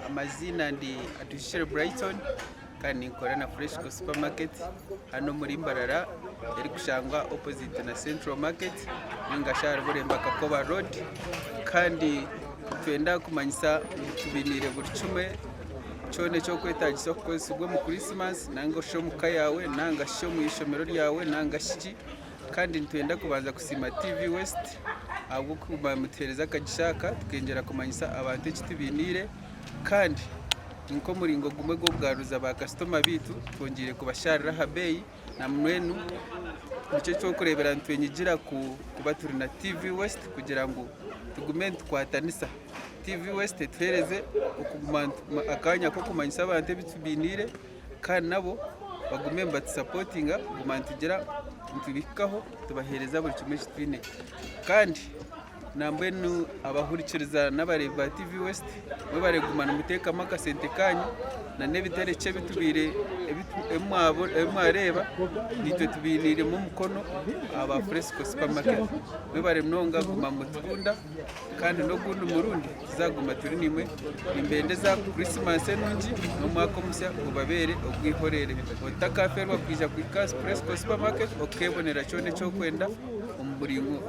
Amaziina ndi Atuhikire Brighton kandi ninkora na Freshco supermarket hanu omuri Mbarara erikushangwa opposite na Central market ninga shi ahari Bureemba Kakoba road kandi nitwenda kumanyisa ngu tubiniire buri kimwe kyona ekyokwetagisa kukozesibwa omu Christmas nari shi omuka yaawe nari shi omwishomero ryaawe nari shi ki. Kandi nitwenda kubanza kusiima TV West ahabw'okuguma mutuheereza akagisha aka tukengyera kumanyisa abantu eki tubainiire kandi ni nk'omuringo gumwe gw'okugaruza baakasitoma baitu twongyeire kubashaarira aha beeyi na mbwenu nikyo ky'okureebera nitwenyigira kuba turi na TV West kugira ngu tugume nitukwatanisa. TV West etuheereze akanya k'okumanyisa abantu ebi tubainiire. kandi nabo bagume nibatusapotinga kuguma nitugira nitubahikaho tubahereza buri kimwe eki twine kandi nambwenu abahurikiriza n'abareebi ba TV west mwebare kuguma nimutekamu akasente kanyu na n'ebiterekye ebitubaire ebimwareeba naitwe tubainiiremu omukono aba Fresco supermarket mwebare munonga kuguma nimutukunda. Kandi n'ogundi murundi tuzaaguma turi naimwe. Nimbendeza Kurisimasi enungi n'omwaka omusya gubabeere ogw'eihoreere. Otakafeerwa kwija kuhika aha Superesco Supermarket okukeebonera kyona eki orikwenda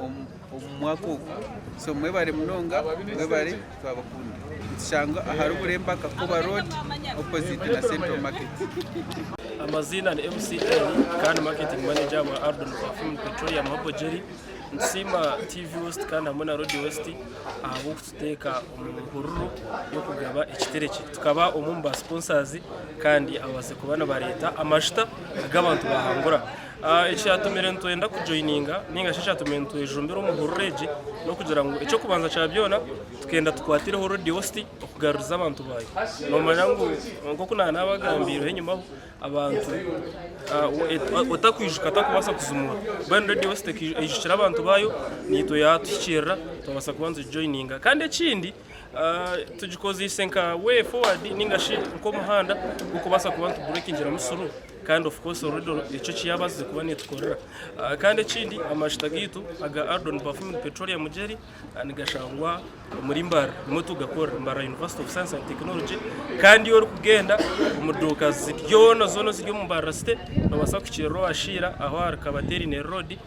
omu mwaka ogu. So mwebare munonga, mwebare, twabakunda. Nitushangwa ahari Oburemba Kakoba Road opposite na Central Market. Amaziina ni MCL kandi Marketing Manager wa Ardon Perfume Petroleum Herbal Jelly. Nitusiima TV West kandi hamwe na Radio West ahabw'okututeeka omu hururu y'okugaba ekiterekye. Tukaba omwe omu ba sponsors kandi ababaase kuba nibareeta amashuta agu abantu bahangura. Ah, Ekyatumire nitwenda kujoininga ninga shi ekyatumire nitwejumbira omu hururu egi n'okugira ngu eky'okubanza kya byona tukenda tukwatireho Radio West okugaruriza abantu baayo. Noomanya ngu nk'oku naanabagambiireho enyima ho, abantu otakwijuka atakubaasa kuzimwa mbwenu radiyo beitu tekaijukira abantu baayo naitwe yaatuhikiirira twabaasa kuba nitugijoyininga kandi ekindi tugikozeise nka way forward nainga shi nk'omuhanda gw'okubaasa kuba nitubureekingiramu suru kandi of course radiyo eki eki yaabaasize kuba neetukorera kandi ekindi amajuta gaitu aga Ardon Perfumed Petroleum Jelly Nigashangwa omuri Mbaara nimwo tugakora, Mbaara University of Science and Technology, kandi ori kugenda omu duuka zona zona eziri omu Mbaara City nobasa kukirira owashiira aho ahari Kabaterini Road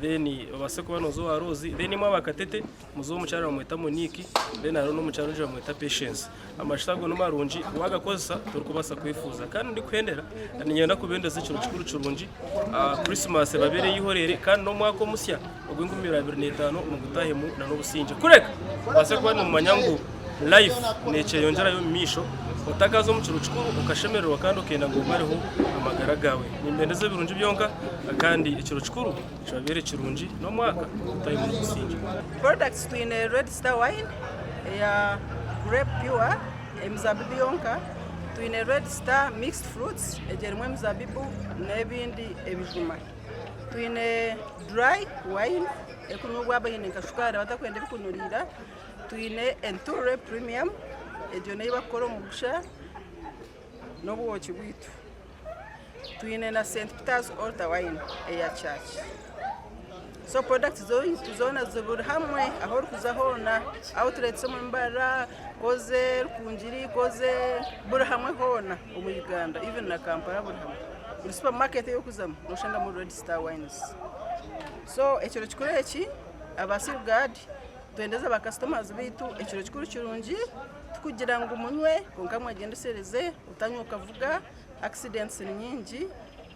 then obase kuba noza owa Roozi then mwaaba Katete muze omukyara bamweta Monique then hariho n'omukyara ondijo bamweta Patience. Amashuta ago ni marungi waagakozesa torikubaasa kwefuuza. Kandi ndikuhendera na niinyenda kubeendeza ekiro kikuru kirungi, Krisimasi ebabeere eihoreire kandi n'omwaka omusya ogw'enkumi ibiri abiri n'etaano mugutaahemu n'obusingye. Kureka obaase kuba noomanya ngu laifu neekyeyongyerayo omu maisho, otakaaza omu kiro kikuru okashemererwa kandi okenda ngu omareho amagara gaawe. Nimbeendeza ebirungi byonka kandi ekiro kikuru kibabeere kirungi n'omwaka mugutaahemu n'obusingye. Products twine Red Star wine eya grape pure emizabibu yonka, twine red star mixed fruits egyo erimu emizabibu n'ebindi ebijuma, twine dry wine erikunyobwa abaine nka shukaari abatakwenda ebirikunuriira, twine entuurre premium egyo n'eyi barikukora omu bugusha n'obwoki bwaitu. twine na St Peter's Altar Wine eya church. So product zoitu zona ziburi hamwe aho orikuza hona outlets omu mbara koze rukungiri koze buri hamwe hona omu Uganda even na Kampala buri hamwe buri supermarket eyi orikuzamu noshangamu Red Star Wines. So ekiro kikuru eki aba Seal Guard Twendeze ba customers baitu ekiro kikuru kirungi tikugira ngu munywe kwonka mwegyendesereze otanywa okavuga accidents ninyingi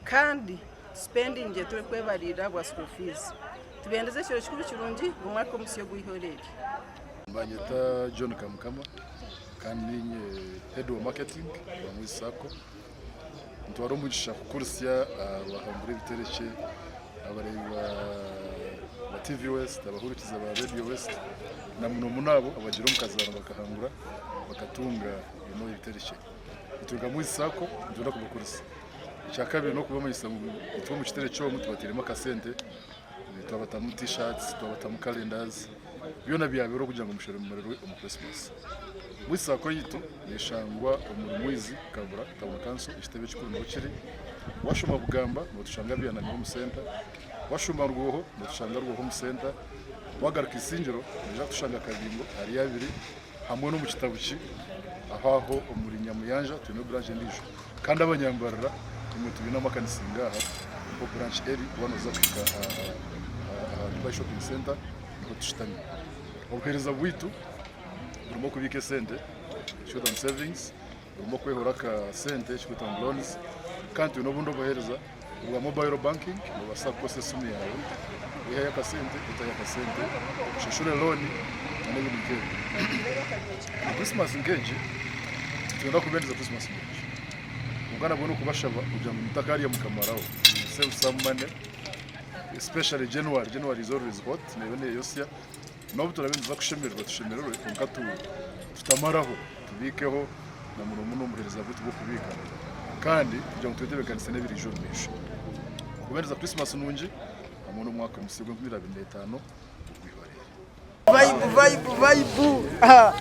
kandi spending eturikwebarira bwa school fees tubendeze ekiro kikuru kirungi omwaka omusya ogwihoreri. Banyeta John Kamukama kandi ninye head wa marketing wa Mwezi sacco. Nitwara omugisha kukurisya abahambire ebiterekye, abareebi ba TV West, abahurikiza ba Radio West na muno muno abo abagira omukazaano bakahangura bakatunga eno ebiterekye. Nitwiruga Mwizi Sacco nitwenda kubakurisya. Ekyakabiri n'okubamanyisa ngu itwe omu kiterekye omu tubateiremu akasente. twabatamu t-shirts twabatamu calendars byona byabeera okugira ngu mushemererwe omu Christmas. Buri saako yaitu neshangwa omuri Mwizi Kabura Town Council ekitebe ekikuru niho kiri. Washoma Bugamba notushanga Byanamiho omu center, washoma Rwoho notushanga Rwoho omu center, wagaruka Isingiro noija kutushanga Kabingo ahari abiri Hamwe n'omu kitabu ki aho aho omuri Nyamuyanja twine branch endiijo kandi abanyambarira imwe tubaine amakanisa ngaaha niho branch eri waaba nooza kuhika aha Dubai Shopping Center niho tushutami. Obuheereza bwaitu burimu okubiika esente, Short Term Savings, obumwe okwehura aka sente ekikwetwa ngu loans kandi twine obundi obuhereza obwa mobile banking nobaasa kukoresa esimu yaawe kwihayo aka sente otayo aka sente oshashure loan nana ebindi nkebyo omu christmas nkegi nitwenda kubeendeza christmas nungi kwonka nabwo nokubashaba kugira ngu mutakarya mukamaraho save some money especially January January is always hot neeba neyosya N'obu turabe nituza kushemererwa tushemererwe kwonka tutamaraho tubiikeho na muno muno omuheereza gwaitu gw'okubiika kandi kugira ngu twetebeekanise n'ebiraije omu maisho. Okubaheereza Krisimasi nungi hamwe n'omwaka musya ogw'enkumi ibiri abiri na etaano ogw'eihoreire.